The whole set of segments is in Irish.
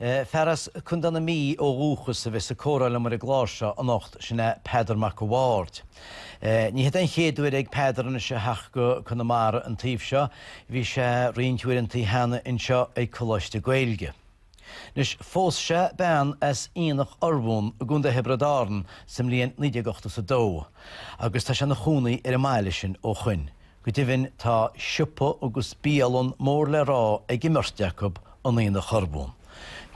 Fear as Contae na Mí ó dhúchas a bheas ag comhrá liom ar an gclár seo anocht, sin é Peadar Mac a' Bhaird. Ní hé an chéad uair ag Peadar anois a theacht go Conamara an taobh seo, bhí sé roinnt uaireanta cheana anseo ag Coláiste Gaeilge. Anois, phós sé bean as Aonach Urmhumhan i gContae Thiobraid Árann sa mbliain 1982 agus tá sé ina chónaí ar an mbaile sin ó shoin. Go deimhin tá siopa agus bialann mór le rá ag imirt acu in Aonach Urmhumhan.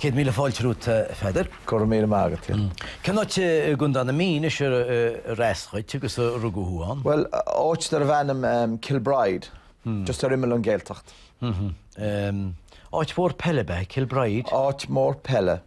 Céad míle fáilte romhat a Pheadair. Go raibh míle maith agat. Cén áit i gContae na Mí anois arb as dhuit agus a rugadh thú ann? Bhuel, áit darb ainm Kilbride, just ar imeall an Gaeltacht. Áit mhór peile ab ea Kilbride? Áit mhór peile,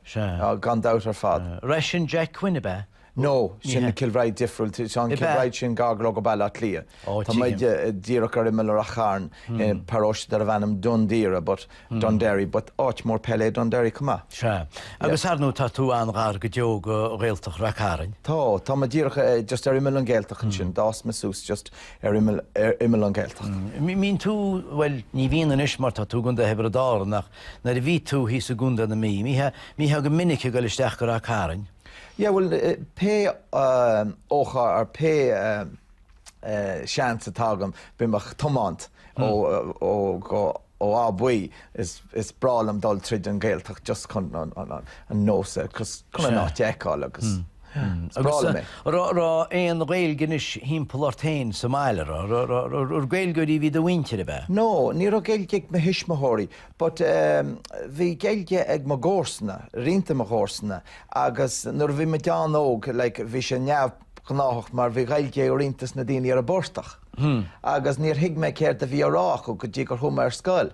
gan dabht ar fad. Ar as sin Jack Quinn ab ea? No, sin Kilbride difriúil, tá an Kilbride sin gar go Baile Átha Cliath. Tá muid díreach ar imeall Rath Chairn i bparóiste darb ainm Dún Doire, but Dún Derry, but áit mór peile é Dún Derry chomh maith. Sea. Agus ar ndóigh tá tú an-ghar go deo go Ghaeltacht Rath Cairn. Tá, tá muid díreach just ar imeall an Ghaeltacht ansin, d'fhás mé suas just ar imeall, ar imeall an Ghaeltacht. An mbíonn tú, bhuel ní bhíonn anois mar tá tú i gContae Thiobraid Árann ach nuair a bhí tú thíos i gContae na Mí, an mbítheá, mbítheá go minic ag dul isteach go Rath Cairn? Yeah, bhuel, pé ócáid or pé seans atá agam bím ag tiomáint ó Áth Buí, is breá liom dul tríd an Ghaeltacht just chun an nós, chun an áit a fheiceáil agus is breá liom é. Raibh aon Ghaeilge anois thimpeall ort féin sa mbaile, ar Gaeilgeoirí a bhí i do mhuintir, ab ea? No, ní raibh Gaeilge ag mo thuismitheoirí. But ehm, bhí Gaeilge ag mo gcomharsana, roinnt de mo chomharsana, agus nuair a bhí muid an-óg, like, bhí sé neamhghnáthach mar bhí Gaeilge ag roinnt dos na daoine ar an bportach. Agus níor thuig mé céard a bhí á rá acu go dtí gur chuaigh mé ar scoil.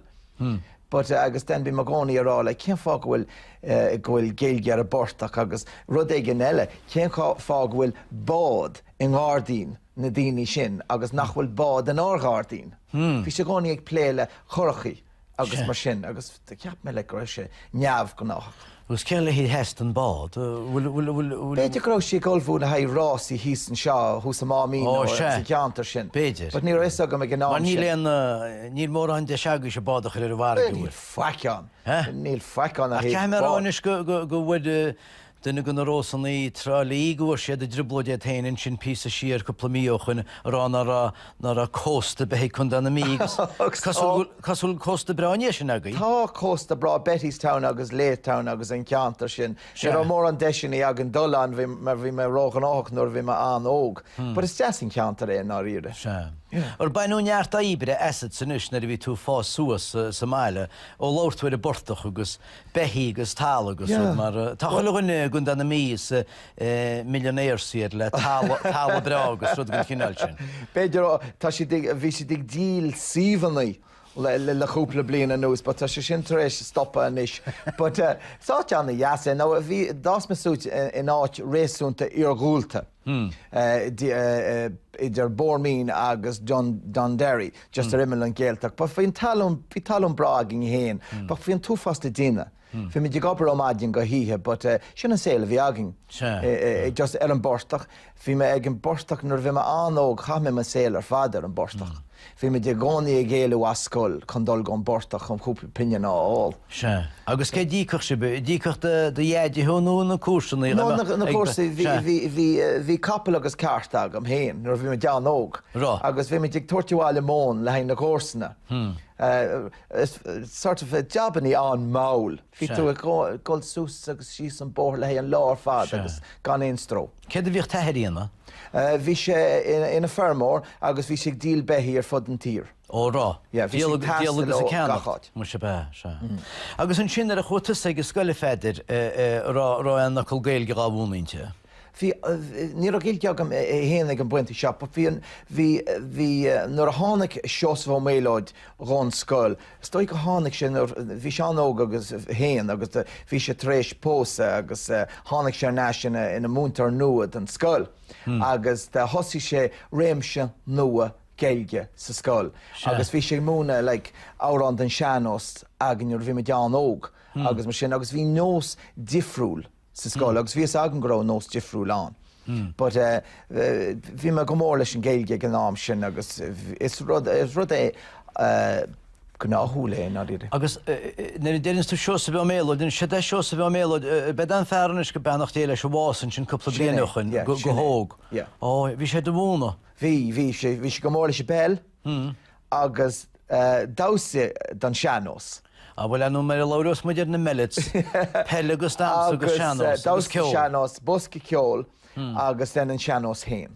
But eh, agus then bhí mé i gcónaí ag rá, like, cén fáth go bhfuil eh, go bhfuil Gaeilge ar an bportach agus rud éigin eile, cén fáth go bhfuil bád i ngairdín? na daoine sin agus nach bhfuil bád in ár ngairdín. Bhí siad i gcónaí ag plé le curachaí agus mar sin agus cheap mé like go raibh sé neamhghnáthach. Agus cé le haghaidh a theastaigh an bád? B'fhéidir go raibh siad ag ullmhú le haghaidh rásaí thíos anseo thuas ar an Máimín nó sa gceantar sin. B'fhéidir. But ní raibh a fhios agam ag an am sin. Mar níl aon, níl mórán deis agaibhse bád a chur ar an bhfarraige. Níl faic ann. Níl faic ann. Ach caithfidh mé a rá anois go bhfuil Duine de na Rósanna i dTrá Lí go bhfuair sí i dtrioblóid í féin ansin píosa siar cúpla mí ó shoin a rá nach raibh nach raibh cósta ar bith ag Condae na Mí agus cosúil go bhfuil cósta breá ansin agaibh. Tá cósta breá Bettystown agus Laytown agus an ceantar sin. Ní raibh mórán deiseanna againn dul ann mar bhí mé ró ghnóthach nuair a bhí mé an-óg. But is deas an ceantar é i ndáiríre. Sea. Ar baineadh neart oibre asatsa anois nuair a bhí tú ag fás suas sa mbaile ó labhair tú ar an bportach agus beithígh agus talamh agus rud mar sin. Tá chuile dhuine i gContae na Mí is millionaire siad le talamh breá agus rud den chineál sin. B'fhéidir go, tá siad ag, bhí siad ag díol suíomhanna le cúpla bliain anuas but tá sé sin tar éis stopadh anois but is áit ana-dheas é. Now bhí, d'fhás mé suas in áit réasúnta iarghúlta. idir Bohermeen agus Dunderry, just ar imeall an Ghealtacht. But bhí an talún, bhí talún breá againn fhéin, but bhí an t-uafás le déanamh, bhí muid ag obair ó mhaidin go hoíche, but sin an saol a bhí againn, just ar an bportach. Bhí mé ag an bportach nuair a bhí mé an-óg, chaith mé mo saol ar fad ar an bportach. Bhí muid i gcónaí ag éalú as scoil chun dul go an bportach chun cúpla pingin a fháil. Sea. Agus cé a d'íocfadh sibh? D'íocfadh do dheaide thú nó na comharsannaí? No, na comharsain. Bhí capall agus cart agam féin nuair a bhí muid an-óg agus bhí muid ag tabhairt abhaile móin le haghaidh na gcomharsana. Sort of jobannaí an-mhall. Bhí tú ag dul suas agus síos an bóthar le haghaidh an lá ar fad agus gan aon stró. Céard a bhí t'athair a dhéanamh? Bhí sé ina feirmeoir agus bhí sé ag díol beithí ar fud an tír. Ó, rá. Yeah, bhí sé ag taisteal gach áit. Díol agus ag ceannacht. Muise, ab ea? Sea. Agus ansin, nuair a chuaigh tusa ag an scoil, a Pheadair, eh, raibh, raibh aon fhocal Gaeilge dhá mhúineadh inti? Bhí, ní raibh Gaeilge agam féin ag an bpointe seo but bhí an, bhí, bhí, nuair a tháinig Seosamh Ó Méalóid dhon scoil, Is dóigh gur tháinig sé nuair a bhí sé an-óg é féin agus bhí sé tar éis pósadh agus tháinig sé ar ais ina múinteoir nua don scoil agus thosaigh sé réimse nua Gaeilge sa scoil agus bhí sé ag múineadh like amhrán don sean-nós againn nuair a bhí muid an-óg agus mar sin agus bhí nós difriúil sa scoil agus bhí fhios agam go raibh an nós difriúil ann but eh bhí mé go mór leis an Ghaeilge ag an am sin agus is rud is rud é eh gnáthúil é now Agus eh nuair a deireanns tú Seosamh Ó Méalóid deireann tú eh Seosamh Ó Méalóid eh ab 'in é an fear anois go beannacht Dé leis a bhásaigh ansin cúpla bliain ó shoin go go hóg. Ó bhí sé de bhunadh. Bhí bhí sé bhí sé go mór leis an bpeil agus damhsa don sean-nós. Bhuel nuair a labhraíonns muid ar na Mellets, peil agus damhsa agus sean-nós agus ceol? Damhsa, sean-nós, bosca ceoil agus then an sean-nós féin.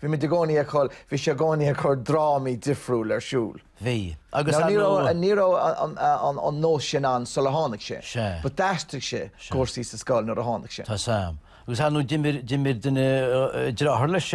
Bhí muid i gcónaí ag chur, bhí sé i gcónaí ag chur drámaí difriúla ar siúl. Bhí. Agus an raibh an. Ní raibh an nós sin ann sular tháinig sé. Sea. But d'aistrigh sé cúrsaí sa scoil nuair a tháinig sé. Tá sam. Agus ar ndóigh, d'imir, d'imir duine, deartháir leis,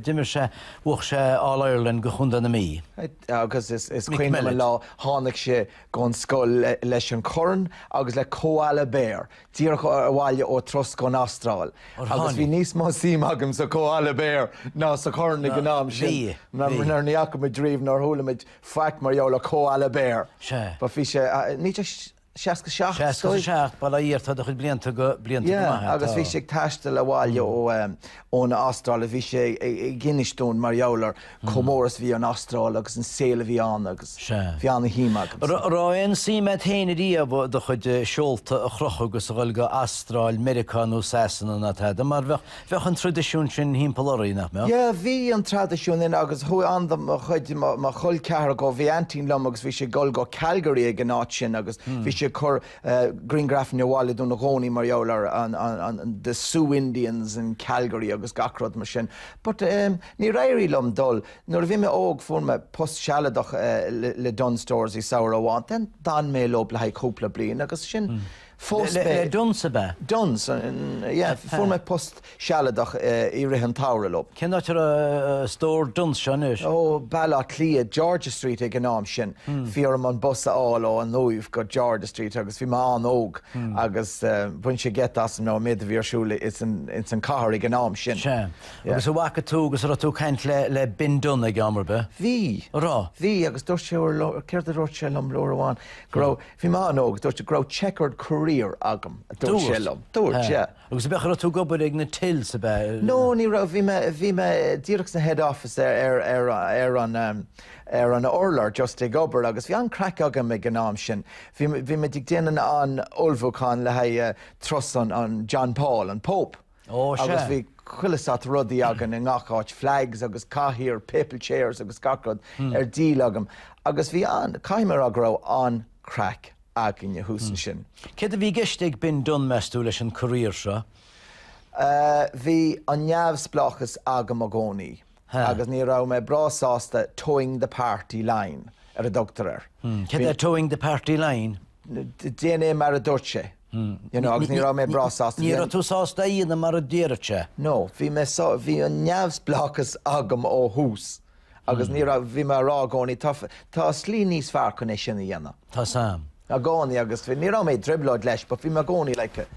d'imir sé, bhuach sé All Ireland do Chontae na Mí. Agus is, is cuimhin liom an lá, tháinig sé gon scoil leis an corn agus le koala bear, díreach abhaile ó thuras go dtí an Astráil. Ó tháinig. Agus bhí níos mó suim agam sa koala bear ná sa chorn ag an am sin. Bhí, bhí. Mar ní fhaca muid riamh, níor chuala muid faic mar gheall ar koala bear. Sea. But bhí sé, níos deise. 67, is dóigh. 67, baile iartha de chuid blianta go blianta go maith é. Agus bhí sé ag taisteal abhaile ó ón Astráil a bhí sé ag insint dúinn mar gheall ar chomh mór is a bhí an Astráil agus an saol a bhí ann agus bhí ana-shuim agamsa. raibh aon suim a'd fhéin riamh do chuid seolta a chrochadh agus a dhul go an Astráil, Meiriceá nó Sasana, ná tada, mar bheadh. Bheadh an traidisiún sin thimpeall orainn, nach mbeadh? Yeah, bhí an traidisiún sin agus chuaigh an-chuid de mo chuid, mo chol ceathar go, bhí aintín liom agus bhí sí ag dul go Calgary ag an áit sin agus bhí sí ag cur grianghrafanna abhaile dúinn i gcónaí mar gheall ar an, an, the Sioux Indians in Calgary agus gach rud mar sin. But ehm níor éirigh liom dul. Nuair a bhí mé óg fuair mé post sealadach le Dunnes Stores i samhradh amháin, then d'fhan mé leo le haghaidh cúpla bliain agus ansin, Phós mé. Le Dunnes ab ea? Dunnes, yeah. Fuair mé post sealadach i rith an tsamhraidh leo. Cén áit a raibh stór Dunnes seo anois? Ó, Baile Átha Cliath, George's Street ag an am sin. Bhí orm an bus a fháil ó An Uaimh go George's Street agus bhí mé an-óg agus bhain sé geit asam an méid a bhí ar siúl ins an chathair ag an am sin. Sea. Agus an bhfaca tú agus an raibh tú ag caint le Ben Dunne ag am ar bith? Bhí. An raibh? Bhí agus dúirt sé céard a dúirt sé liom uair amháin? Go raibh Bhí mé an-óg, dúirt, go raibh chequered career agam, a dúirt sé liom. Dúirt, yeah. Agus b'shin, cá raibh tú ag obair ag na tills ab ea? No, ní raibh, bhí mé, bhí mé díreach sna head office ar an, ar an urlár, just ag obair, agus bhí an-craic agam ag an am sin. Bhí, bhí muid ag déanamh an ullmhúcháin le haghaidh turas an John Paul, an Pope. Ó, sea. Agus bhí chuile shórt rudaí againn i ngach áit, flags agus cathaoir, na papal chairs agus gach rud ar díol agam. Agus bhí an, caithfidh mé a rá go raibh an-craic againne thuas ansin. Céard a bhí i gceist ag Ben Dunne, meas tú, leis an career seo? Bhí an neamhspleáchas agam i gcónaí agus ní raibh mé breá sásta toeing the party line, ar a dtugtar air. Céard é toeing the party line? Déan é mar a dúirt sé. You know, agus ní raibh mé breá sásta. Ní raibh tú sásta é a dhéanamh mar a d'iarr sé? No, bhí mé sá-, bhí an neamhspleáchas agam ó thús agus ní raibh, bhí mé ag rá i gcónaí, tá, tá slí níos fearr chun é sin a dhéanamh. Tá's a'm. I gcónaí, agus bhí, ní raibh mé i dtrioblóid leis, but bhí mé i gcónaí, like,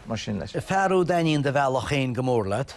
mar sin leis. Fearacht daoine, do bhealach féin go mór leat.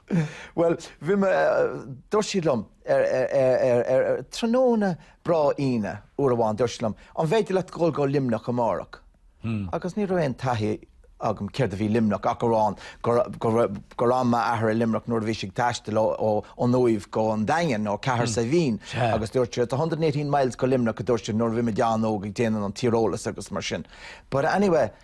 Bhuel, bhí mé, dúirt siad liom ar, ar, ar, ar, ar, ar tráthnóna breá Aoine uair amháin, dúirt siad liom, an bhféidir leat dhul go Luimneach amárach? Agus ní raibh aon taithí agam céard a bhí Luimneach ach amháin gur, gur raibh, gur fhan m'athair i Luimneach nuair a bhí sé ag taisteal ó, ó, ón Uaimh go an Daingean nó Cathair Saidhbhín. Sea. Agus dúirt siad, it's a hundred and eighteen miles go Luimneach a dúirt siad nuair a bhí muid an-óg ag déanamh an tíreolas agus mar sin. But anyway.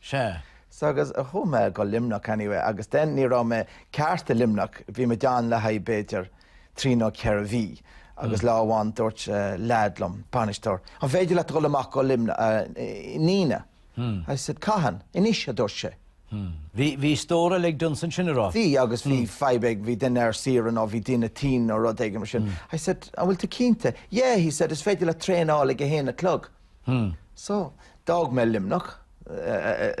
Sea. Sea, agus chuaigh mé go Luimneach, anyway, agus then ní raibh mé ceart i Luimneach, bhí mé ann le haghaidh b'fhéidir trí nó ceithre mhí, agus lá amháin dúirt leaid liom, bainisteoir, an féidir leat dhul amach go Luimneach, Nenagh? I said, cathain? Anois, a dúirt sé. Bhí stór eile ag Dunnes ansin, a raibh? Bhí, agus bhí fadhb ag, bhí duine ar saoire nó bhí duine tinn nó rud éigin mar sin. I said, an bhfuil tú cinnte? Yeah, he said, is féidir leat traein a fháil ag a haon a chlog. So, d'fhág mé Luimneach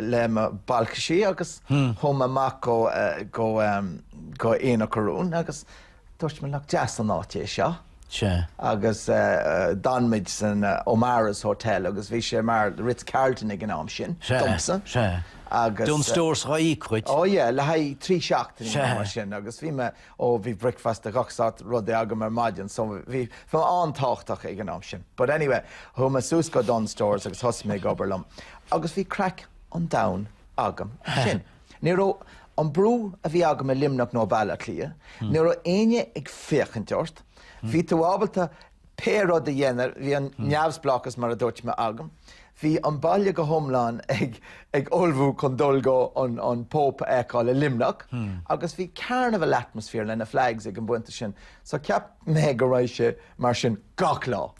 le mo bhalcaisí agus chuaigh mé amach go Aonach Urmhumhan agus dúirt mé, nach deas an áit é seo? Agus d'fhan muid san O'Mara's Hotel agus bhí sé mar Ritz Carlton ag an am sin, domsa. Dunnes Stores, dhá íoc dhuit. Ó yeah, le haghaidh trí seachtaine nó mar sin agus bhí mé ó bhí breakfast de gach sórt rudaí agam ar maidin so bhí mé an-tábhachtach ag an am sin. But anyway, chuaigh mé suas go Dunnes Stores agus thosaigh mé ag obair liom agus bhí craic an domhain agam ansin. Ní raibh an brú a bhí agam i Luimneach nó Baile Átha Cliath, ní raibh éinne ag féachaint ort, bhí tú ábalta, Pé rud a dhéanamh, bhí an neamhspleáchas, mar a dúirt mé, agam. Bhí an baile go hiomlán ag ullmhú chun dul go an Pope a fheiceáil i Luimneach agus bhí carnival atmosphere le na flags ag an bpointe sin. So cheap mé go raibh sé mar sin gach lá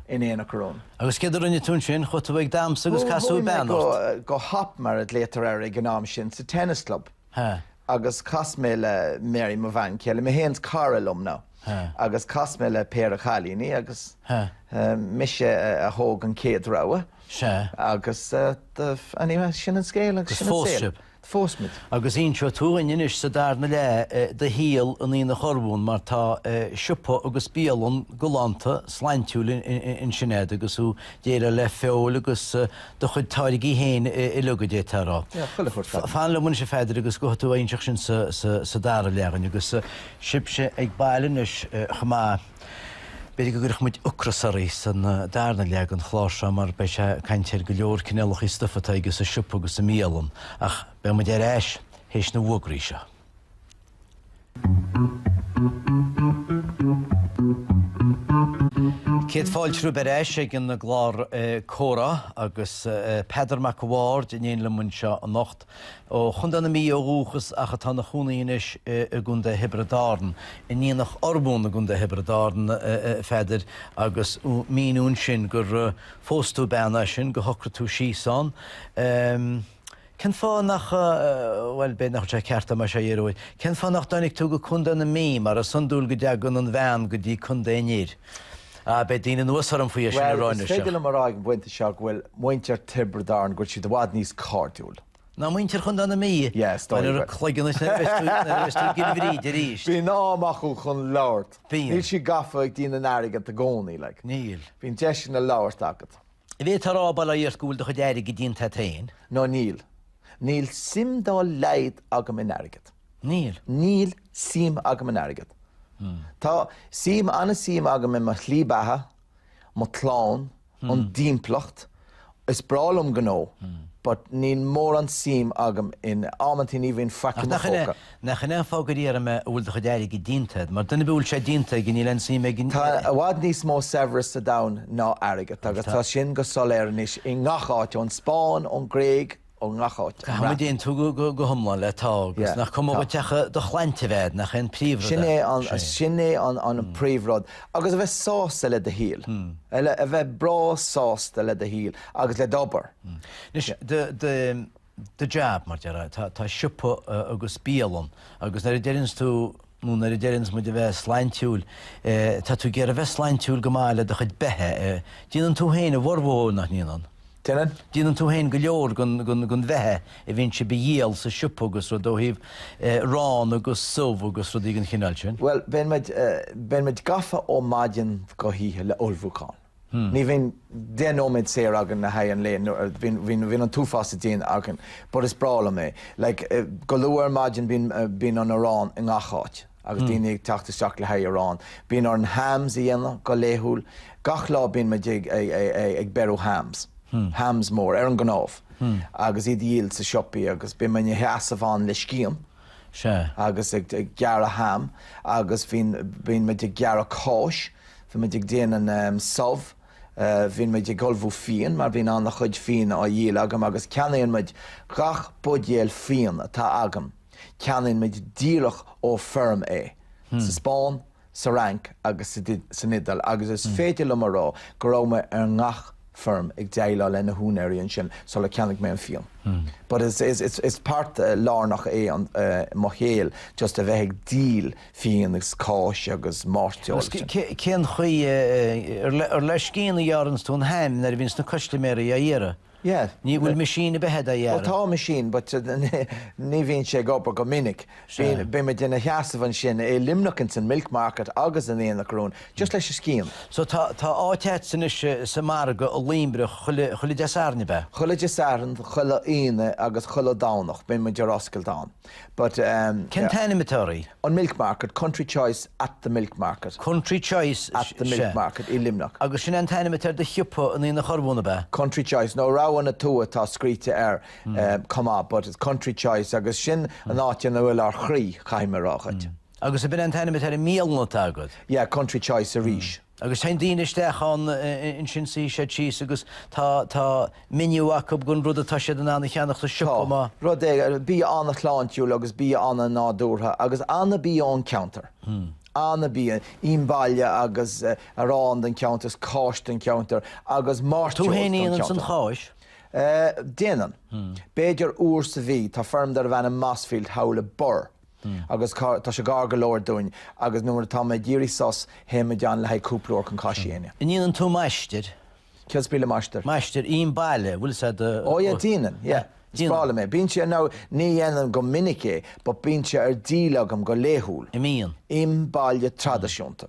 in Aonach Urmhumhan. Agus céard a rinne tú ansin? Chuaigh tú ag damsa agus casadh bean ort? Chuaigh mé go hop, mar a ghlaotar air ag an am sin, sa tennis club. Huh. Agus chas mé le Mary, mo bhean chéile, mé fhéin 's cara liom now. Huh. Agus chas mé le péire chailíní agus Huh. eh, mise a, a thóg an chéad rogha. Sea. Agus eh, the, anyway, sin an scéal agus sin an saol. Phós sibh. Phós muid. Agus inseoidh tú dhúinn anois sa darna leath eh, do shaol in Aonach Urmhumhan mar tá eh, siopa agus bialann galánta sláintiúil in, in, in, ansin agat agus thú ag déileáil le feoil agus eh, do chuid táirgí féin uilig, a d'fhéadfá a rá. Yeah, chuile shórt fataí. Fan liom anois, a Pheadair, agus gabhfaidh tú ag inseacht sin sa dara leath dhúinn, agus sibhse ag baile anois chomh maith, b'fhéidir go gcuirfeadh muid ocras oraibh san darna leath den chlár seo, mar beidh sé ag caint ar go leor cineálachaí stuif atá aige sa siopa agus sa mbialann, ach beidh muid ar ais théis na bhfuagraí seo. Céad fáilte romhaibh ar ais ag an gclár Comhrá agus Peadar Mac a' Bhaird in éin liom anseo anocht. Ó Chontae na Mí ó dhúchas ach atá ina chónaí anois i gContae Thiobraid Árann, in Aonach Urmhumhan i gContae Thiobraid Árann, a Pheadair, agus míniúnn sin gur phós tú bean as sin, gur shocraigh tú síos ann. Cén fáth nach, bhuel, b'fhéidir nach bhfuil sé ceart dom é seo a iarraidh uait, cén fáth nach dtáinig tú go Contae na Mí, mar is iondúil go dtagann an bhean go dtí contae an fhir? Ah, beidh daoine anuas orm faoi é sin a rá anois ach. Bhuel, is féidir liom a rá ag an bpointe seo go bhfuil muintir Thiobraid Árann, go bhfuil siad i bhfad níos cairdiúil. Ná muintir Chontae na Mí? Yeah, is dóigh. Bhuel, ar do chloigeann anois nuair a bheas tú, nuair a bheas tú i gCill Bhríde arís. Bíonn am acu chun labhairt. Bíonn. Níl siad gafa ag déanamh airgead i gcónaí, like. Níl. Bíonn deiseanna labhairt agat. Ab ea go bhfuil tú a rá go bhfuil do chuid airgid déanta a't féin. No, níl. Níl suim dá laghad agam in airgead. Níl. Níl suim agam in airgead. Tá suim, an-suim agam i mo shlí beatha, mo clann, an timpeallacht. Is breá liom gnó, but níl mórán suim agam in, amantaí ní bhíonn faic i mo phóca. Nach in é an fáth gur iarr mé a bhfuil do chuid airgid díonta agat. Mar duine a bhfuil sé díonta aige níl aon suim aige. Tá i bhfad níos mó saibhreas sa domhan ná airgead agus tá sin go soiléir anois i ngach áit, ón Spáinn, ón Ghréig, ó ngach áit, an Bhreatain. Caithfimid aontú go hiomlán leat agus nach cuma dhuit ach do shláinte a bheith a'd, nach é an príomhrud é? Sin é an príomhrud. Agus a bheith sásta le do shaol. A bheith breá sásta le do shaol agus le d'obair. Anois, de. do jab, mar déarfá, tá siopa agus bialann agus nuair a deireanns tú, nó nuair a deireanns muid a bheith sláintiúil, tá tú ag iarraidh a bheith sláintiúil go mba é le do chuid beatha. Déanann tú féin a bhformhór, nach ndéanann? Déanann. Déanann tú féin go leor den bheatha a bhíonn sibh a dhíol sa siopa agus rud ó thaobh arán agus subh agus rudaí den chineál sin? Bhuel, bíonn muid gafa ó mhaidin go hoíche le ullmhúchán. Ní bhíonn deich nóiméad saor againn le haghaidh an lae, bhíonn an t-uafás a déanamh againn, but is breá liom é. Like, go luath ar maidin bíonn an arán i ngach áit agus daoine ag teacht isteach le haghaidh arán. Bíonn orainn hams a dhéanamh go laethúil, gach lá bíonn muid ag beiriú hams, hams mór, ar an gcnámh, agus iad a dhíol sa siopa agus bím i mo sheasamh ann le scian, sé. agus ag gearradh ham agus bhíonn bíonn muid ag gearradh cáis, bíonn muid ag déanamh subh, bíonn muid ag ullmhú fíon mar bhíonn ana chuid fíona á dhíol agam agus ceannaíonn muid gach buidéal fíon atá agam, ceannaíonn muid díreach ó feirm é. Sa Spáinn sa Fhrainc agus san Iodáil agus is féidir liom a rá go raibh mé ar ngach feirm ag déileáil le na húinéirí ansin sular cheannaigh mé an fíon. But is páirt lárnach é i mo shaol just a bheith ag díol fíon agus cáis agus mairteoil. Agus cén chaoi, an le scian a ghearranns tú an ham nuair a bhíonns na custaiméaraí á iarraidh? Yeah. Ní bhfuil machine ar bith a dhéanamh. Bhuel, tá machine, but ní bhíonn sé ag obair go minic. Bíonn muid inár seasamh ansin i Luimneach ins an Milk Market agus in Aonach Urmhumhan, just leis an scian. So tá áit a'tsa anois sa margadh i Luimneach chuile Dé Sathairn, ab ea? Chuile Dé Sathairn, chuile Aoine agus chuile Domhnach bíonn muid ar oscailt ann. But um, yeah. Cén t-ainm atá air? An milk market, country choice at the milk market. Country choice At the milk market i Luimneach. Agus sin é an t-ainm atá ar do shiopa in Aonach Urmhumhan ab ea? Country choice, nó Rogha na Tuaithe atá scríte air, chomh maith, but it's country choice agus sin an áit ina bhfuil ár chroí, caithfidh mé a rá dhuit. Agus a b'in an t-ainm atá ar an mbialann atá agat? Yeah, country choice arís. Agus téann daoine isteach ann, ansin suífidh siad síos agus tá, tá menu acu den rud atá siad in ann a cheannach sa siopa, má. rud é, bia an-shláintiúil agus bia an-nádúrtha agus an-bhia ón cheantar, an-bhia, ím baile agus arán den cheantar agus cáis den cheantar agus mairteoil den cheantar. Tú fhéin a dhéananns an cháis? Déanann. B'fhéidir uair sa mhí. Tá feirm darb ainm Mossfield thall i mBiorra. Agus tá sé gar go leor dúinn, agus nuair atá mé ag iarraidh sos, théim ann le haghaidh cúpla uair chun cáis a dhéanamh. An ndéanann tú maistreadh? Céard is brí le maistreadh? Maistreadh im baile, bhfuil sé do. Ó yeah, déanann, yeah. Is breá liom é. Bíonn sé, nó ní dhéanaim go minic é, but bíonn sé ar díol agam go laethúil. An mbíonn. Im baile traidisiúnta.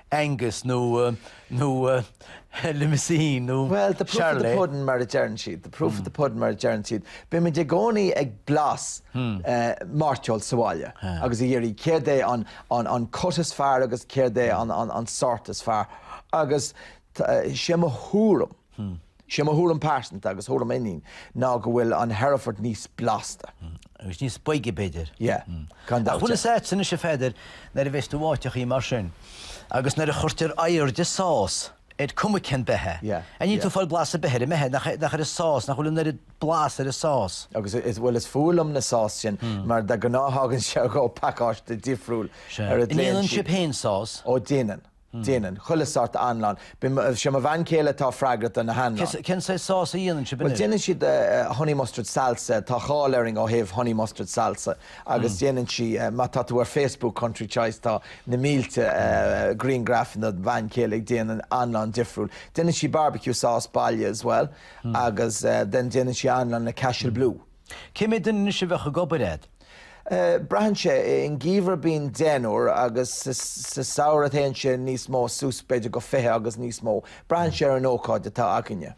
Angus nó Limousin nó Charolais. Bhuel, the proof of the pudding mar a deireann siad, the proof of the pudding mar a deireann siad. Bíonn muid i gcónaí ag blas mairteoil sa bhaile agus ag iarraidh céard é an cut is fearr agus céard é an sórt is fearr agus sé mo thuairim, Is é mo thuairim pearsanta, agus tuairim m'inín, ná go bhfuil an Hereford níos blasta. Agus níos boige, b'fhéidir. Yeah, gan dabht. Ach bhfuil fhios a'd, anois a Pheadair, nuair a bheidh tú in áiteachaí mar sin, agus nuair a chuirtear air an, sás, is cuma cén beithíoch, Yeah, yeah. níl tú ag fáil blas an bheithígh, an bheithígh, nach é, nach ar a' sás, nach bhfuil an oiread blas ar a' sás. Agus is, bhuel is fuath liom na sás sin, mar de ghnáth thagann sé ó phacáiste difriúil ar aon nós. An ndéanann sibh féin sás? Ó déanann. Déanann. Chuile shórt anlann. Bim, Sé mo bhean chéile atá freagrach do na hanlann. Cén saghas sás a dhéanann sibh anois? Bhuel, déanann siad honey mustard salsa, tá cáil orainn ó thaobh honey mustard salsa agus déanann sí, má tá tú ar Facebook Country Choice tá na mílte griangraifeanna den bhean chéile ag déanamh anlann difriúil. Déanann sí barbecue sauce baile as well agus then déanann sí anlann le Cashel Blue. Cé mhéad duine anois a bheadh ag obair a'd. Braitheann sé. In geimhreadh bíonn deichniúr agus sa samhradh téann sé níos mó suas b'fhéidir go fiche agus níos mó. Braitheann sé ar an ócáid atá againne.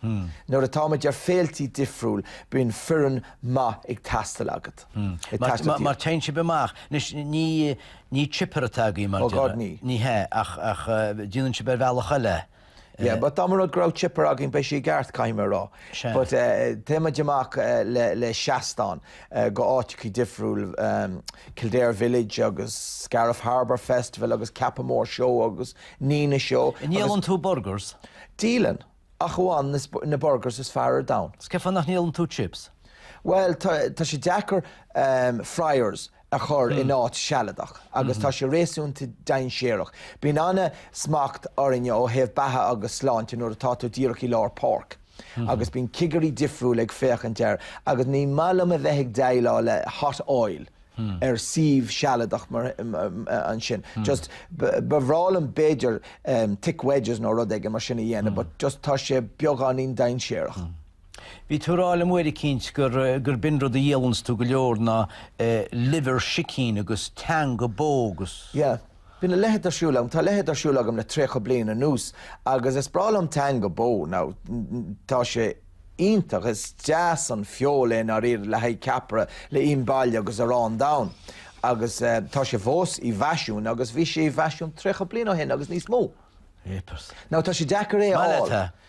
Nuair atáimid ar féiltí difriúil bíonn foireann maith ag teastáil agat. Mar téann sibh amach. Anois ní chipper atá againn mar a déarfá. Ní hea ach déanann sibh ar bhealach eile é. Yeah, but dá mba rud go raibh Chipper againn bheadh sé i gceart, caithfidh mé a rá. Sea. But téimid amach le seastán go áiteacha difriúil, Kildare Village agus Scariff Harbour Festival agus Cappamore Show agus Nenagh Show agus. Ndíolann tú burgers? Díolann, ach amháin na burgers is fearr ar domhan. 'S cé fá nach ndíolann tú chips? Bhuel, tá sé deacair, fryers. a chur in áit sealadach agus tá sé réasúnta dainséarach. Bíonn an-smacht orainne ó thaobh beatha agus sláinte nuair atá tú díreach i lár páirce agus bíonn cigirí difriúla ag féachaint air agus ní maith liom a bheith ag déileáil le hot oil ar suíomh sealadach mar sin. Just, ba bhreá liom b'fhéidir thick wedges nó rud éigin mar sin a dhéanamh but just tá sé beagáinín dainséarach. Bhí tú ag rá liom uair eicínt gur, gur b'in rud a dhíolanns tú go leor ná liver sicín agus teanga bó agus. Yeah. Bíonn a leithéid ar siúl agam, tá a leithéid ar siúl agam le tríocha bliain anuas agus is breá liom teanga bó. Now, tá sé iontach, is deas an feoil é i ndáiríre, le haghaidh ceapaire, le ím baile agus arán donn. Agus eh, tá sé fós i bhfaisean agus bhí sé i bhfaisean tríocha bliain ó shin agus níos mó. Jeepers. Now, tá sé deacair é a fháil. Má tá.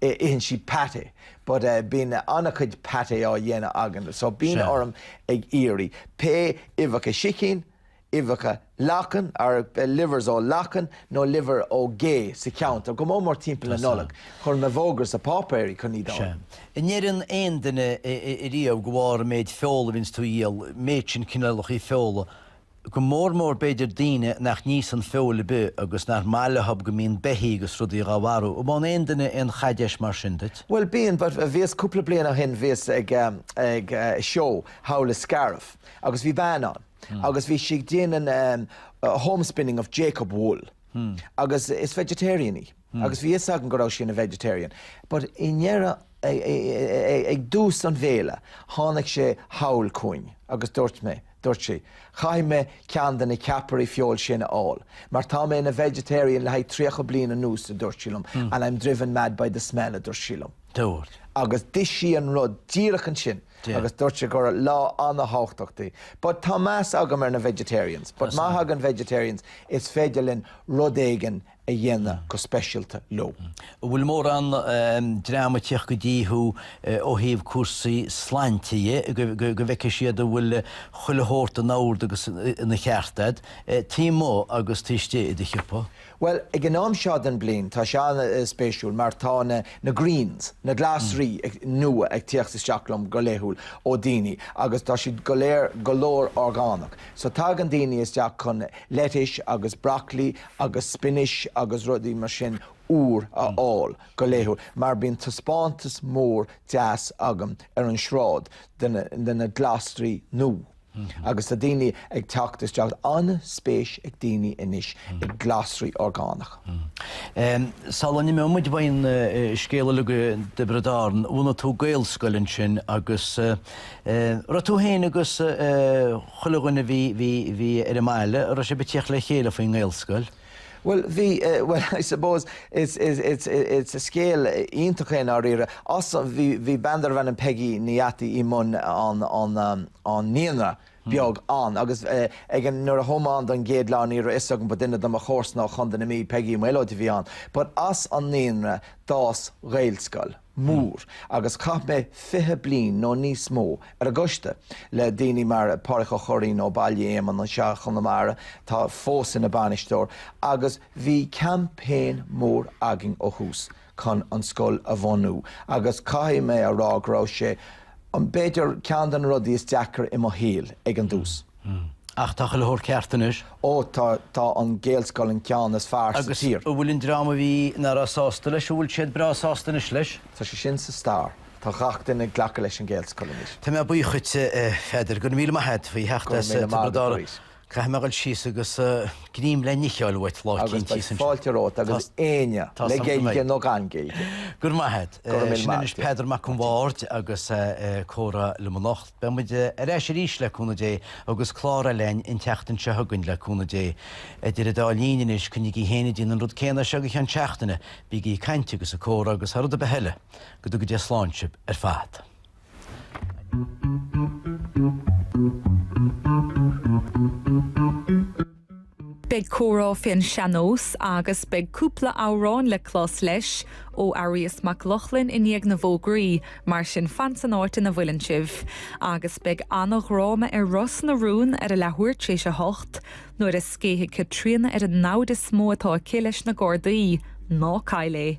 itheann siad pâté but eh bíonn an-chuid pâté á dhéanamh againn so bíonn Sea. orm ag iarraidh pé uibheacha sicín, uibheacha lachain or eh livers ó lachain nó liver ó ghé sa cheantar, go mór mór timpeall na Tá sa. Nollag, chuir mé fógra sa pháipéar chun iad a Sea. fháil. An ndeireann aon duine eh eh riamh go bharr an méid feola a bhíonns tú a dhíol, méid sin cineálachaí feola, go mór mór b'fhéidir daoine nach n-íosann feoil ar bith agus nach maith leothub go mbíonn beithí agus rudaí dhá mharú. An mbaineann aon duine aon chaidéis mar sin díot? Bhuel bíonn, but bhíos cúpla bliain ó shin bhíos ag ag seó thall i Scariff agus bhí bean ann agus bhí sí ag déanamh Homespinning of Jacob wool. agus is vegetarian í agus bhí fhios agam go raibh sí ina vegetarian but i ndeireadh ag dtús an fhéile tháinig sí thall chugainn agus dúirt mé, dúirt sí, caithfidh mé ceann de na ceapairí feoil sin a fháil mar tá mé ina vegetarian le haghaidh 30 bliain anuas a dúirt sí liom and I'm driven mad by the smell a dúirt sí liom. Dúirt. Agus d'ith sí an rud díreach ansin. agus dúirt sí gur lá an-tábhachtach di. But tá meas agam ar na vegetarians, but má thagann vegetarians, is féidir linn rud éigin a dhéanamh go speisialta leo. An bhfuil mórán dream ag teacht go dtí thú ó thaobh cúrsaí sláinte dhe, go bhfeicfidh siad an bhfuil chuile shórt in ord agus ina cheart a'd, taobh amuigh agus taobh istigh i do shiopa? Bhuel, ag an am seo den bliain tá sé an-spéisiúil mar tá na Greens, na Glasraí nua ag tíocht isteach chugam go laethúil ó daoine agus tá siad go léir go leor orgánach. So tagann daoine isteach chun lettuce agus broccoli agus spinach agus rudaí mar sin úr a fháil go laethúil mar bíonn taispeántas mór deas agam ar an sráid de na glasraí nua. Agus tá daoine ag teacht isteach, an-spéis ag daoine anois i nglasraí orgánacha. Sula n-imeoidh muid ón scéal uilig i dTiobraid Árann, bhunaigh tú Gaelscoil ansin agus raibh tú féin agus chuile dhuine a bhí ar an mbaile, raibh sibh ag tíocht le chéile faoin nGaelscoil? Bhuel, bhí, bhuel, I suppose, is scéal iontach é, i ndáiríre. As, bhí, bhí bean darbh ainm Peggy Ní Dheataí i mbun an, an, an naíonra beag ann agus ag an, nuair a chuaigh mé ann don gcéad lá ní raibh 'fhios agam but duine de mo chomharsana ó Chontae na Mí, Peggy Uí Mhaolóid a bhí ann, but as an naíonra d'fhás Gaelscoil. mór, agus chaith mé fiche bliain nó níos mó ar an gcoiste, le daoine mar Pádraic Ó Curraoin ó Bhaile Éamainn anseo i Chonamara, atá fós ina bainisteoir, agus bhí campaign mór againn ó thús chun an scoil a bhunú, agus caithfidh mé a rá go raibh sé, b'fhéidir, ceann de na rudaí is deacair i mo shaol ag an dtús. Hm. Ach tá chuile shórt ceart anois. Ó, tá, tá an Ghaelscoil an ceann is fearr sa tír. Agus an bhfuil an dream a bhí, nach raibh sásta leis, an bhfuil siad breá sásta anois leis? Tá sé sin sa stair. Tá gach duine ag glacadh leis an Ghaelscoil anois. Tá mé buíoch dhuit, a Pheadair. Go raibh míle maith a't faoi theacht as Tiobraid Árann. Caithfidh mé a dhul síos agus greim le n-ithe a fháil uait lá éigin thíos ansin. Agus beidh fáilte romhat agus éinne, le Gaeilge nó gan Gaeilge. Go raibh maith a't. Go raibh míle maith a't. Sin anois Peadar Mac an Bhaird agus a comhrá liom anocht. Beidh muid ar ais arís, le cúnamh Dé, agus clár eile againn an tseachtain seo chugainn, le cúnamh Dé. Idir an dá linn anois, coinnigí féin ag déanamh an rud céanna anseo go ceann seachtaine, bígí ag caint agus ag comhrá agus thar rud ar bith eile, go dtuga Dia slán sibh ar fad. Beidh comhrá fén seannós agus beidh cúpla amhrán le clos leis ó Arias Mac Lochlainn i ndiaidh na bhfógraí, mar sin fan san áit ina bhfuileann sibh. Agus beidh ana-dhráma ar Ros na Rún ar a leathuair t'réis a hocht, nuair a scéithfidh Caitríona ar an namhaid is mó atá aici leis na Gardaí. Ná caill é!